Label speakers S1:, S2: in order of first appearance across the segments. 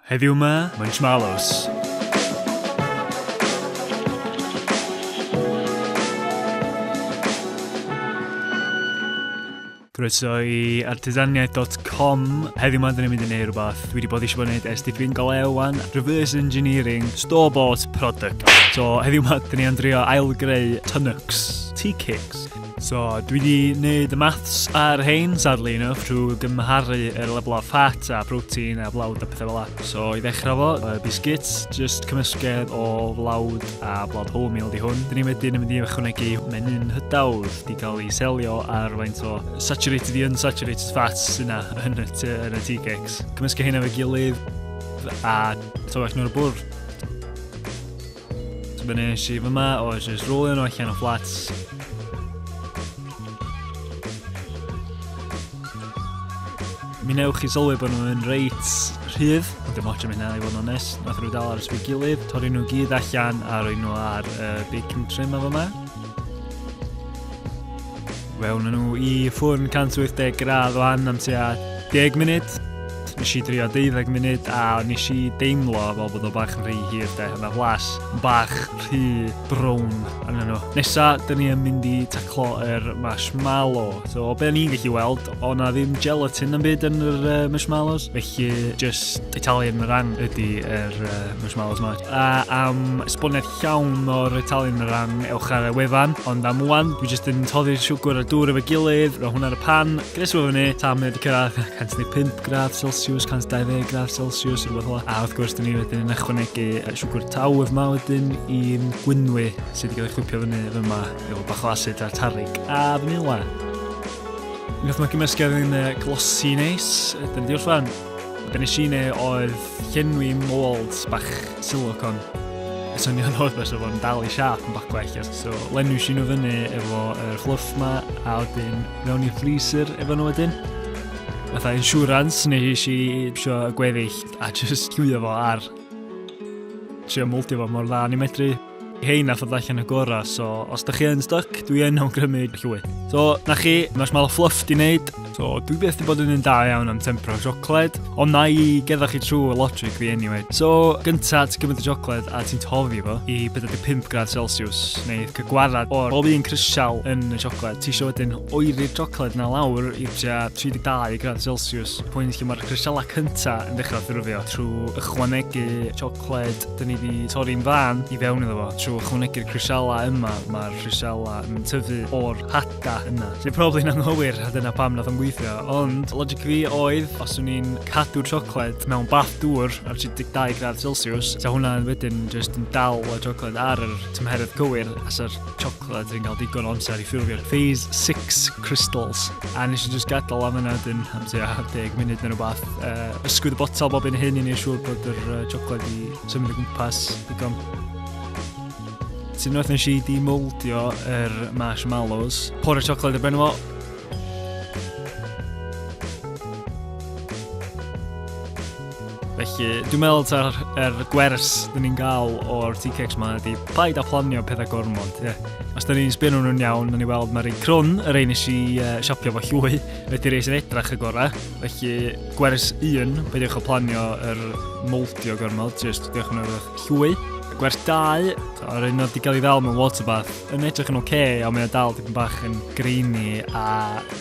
S1: Heddiw 'ma, Munchmallows! Croeso i artisaniaeth.com. Heddiw ma'n dyn ni'n mynd i neud rhywbeth. Dwi wedi bod eisiau bod yn neud SDP'n golew wan. Reverse engineering, store bought product. So heddiw ma'n dyn ni'n drio ail greu Tunnux, tea cakes. So, dwi wedi gwneud y maths ar hein, sadly enough, trwy gymharu yr level o fat a protein a blawd a pethau fel la. So, i ddechrau fo, y biscuits, just cymysgedd o flawd a blawd wholemeal di hwn. Dyn ni wedyn yn mynd i ychwanegu menyn hydawdd di cael ei selio ar faint o saturated i unsaturated fats yna yn y, yn y tea cakes. Cymysgu hynna fe gilydd a tywech nhw'r bwrdd. So be nes i fyma oedd jyst rolio nhw allan o fflats. Mi newch chi sylwi bod nhw'n reit rhydd, ond dim ots am hynna i fod yn onest. Nath nhw dal ar ysbryd gilydd, torri nhw gyd allan a roi nhw ar uh, baking trim a fyma. Fe wna nhw i ffwrn 180 gradd o an am tua 10 munud. Nes i drio 12 munud a nes i deimlo fel bod o bach yn rhy hir de. Yna flas bach rhy brown yn nhw. Nesa, dyn ni yn mynd i taclo yr er marshmallow. So, o beth ni'n gallu weld, o na ddim gelatin yn byd yn yr uh, marshmallows. Felly, just Italian meringue ydy yr er, uh, marshmallows ma. A am esboniad llawn o retalyn o ran ewch ar y wefan, ond am wan, dwi jyst yn toddi'r siwgr a dŵr efo gilydd, roi hwnna ar y pan, gresu fo fyny, tam neu wedi cyrraedd 115 gradd Celsius, 120 gradd Celsius, rhywbeth fel A wrth gwrs, dyn ni wedyn yn ychwanegu siwgr taw yma wedyn i'n gwynwy sydd wedi cael ei chwipio fyny yma efo bach o asid a'r tarig a fanila. Wnaeth mae gymysgedd yn glosi neis, dyn ni wedi orffan. Be nes i neu oedd llenwi mold bach silicon. Y syniad oedd beth oedd o'n dal i siap yn bach gwell. So, lenwi si nhw fyny efo y fluff ma, a wedyn mewn i freezer efo nhw wedyn. Fatha insurance, neu nes i sio gweddill a just llwio fo ar trio moldio fo mor dda ni medru. Hei, na ffod allan y gorau, so os da chi yn stuck, dwi yn awgrymu llwyth. So, na chi, mae'r mal fluff di wneud. So, dwi beth di bod yn un da iawn am tempro siocled, ond na i gedda chi trwy y logic fi anyway. So, gynta ti gymryd y siocled a ti'n tofi fo i 45 grad Celsius, neu cygwarad o'r bob un crisial yn y siocled. Ti eisiau wedyn oeri'r siocled na lawr i 32 grad Celsius, pwynt lle mae'r crisialau cynta yn dechrau ffurfio trwy ychwanegu siocled Cled, dyn ni wedi torri'n fan i fewn iddo fo. Trwy ychwanegu'r crisialau yma, mae'r crisialau yn tyfu o'r hada yna. Sy'n probably yn anghywir, a dyna pam nath o'n gweithio. Ond, logic fi oedd, os o'n i'n cadw siocled mewn bath dŵr ar 32 gradd Celsius, ta hwnna'n wedyn just yn dal y siocled ar yr tymheredd cywir, asa'r Chocolate, dwi'n cael digon o amser i ffurfio'r phase 6 crystals. A nes i just gadael am yna dyn am tua 10 munud neu rhywbeth. Uh, ysgwyd y botol bob un hyn i ni siŵr bod yr uh, chocolate i symud o gwmpas digon. Ti'n rhaid nes i di moldio yr marshmallows. Por y chocolate y ben fo, Felly, dwi'n meddwl ta'r er gwers dyn ni'n gael o'r TKX ma ydi paid a planio pethau gormod. Yeah. Os dyn ni'n sbyn nhw'n iawn, dyn ni weld mae'r rei crwn, y rei nes i uh, siopio fo llwy, ydy rei sy'n edrach y gorau. Felly, gwers un, peidiwch o planio yr moldio gormod, jyst diolch yn eich llwy. Gwers dau, yr un oedd wedi cael ei ddal mewn waterbath, yn edrych yn oce, okay, ond mae o dal dipyn bach yn greini a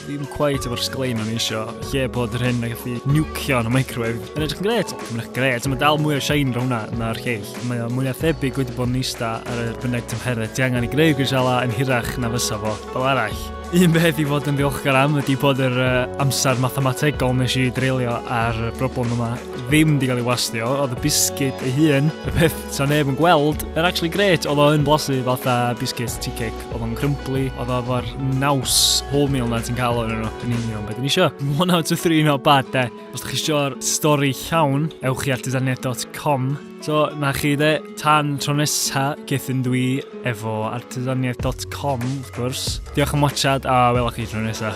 S1: ddim cweit efo'r sglein o'n eisiau. Lle bod yr hyn yn gallu niwcio yn y microwave. Yn edrych yn gret, yn edrych gret, mae dal mwy o shine rhwng hwnna na'r lleill. Mae o mwy o thebyg wedi bod yn eista ar y bynnag tymheredd. Di angen i greu grisela yn hirach na fysa fo. Fel arall, un beth i fod yn ddiolchgar am ydy bod yr uh, amser mathemategol nes i dreulio ar y broblem yma ddim wedi cael ei wastio. Oedd y bisgyd ei hun, y peth Sa neb yn gweld, yn actually great, oedd o yn blasu fatha biscuits tea cake, oedd o'n crumbly, oedd o efo'r naws wholemeal na ti'n cael o'n yno, yn union beth yn eisiau. One out of three not bad de. Os ydych chi eisiau'r stori llawn, ewch chi at dysaniaeth.com. So, na chi de, tan tro nesa, gethyn dwi efo artesaniaeth.com, wrth gwrs. Diolch am watchad a welwch chi tro nesa.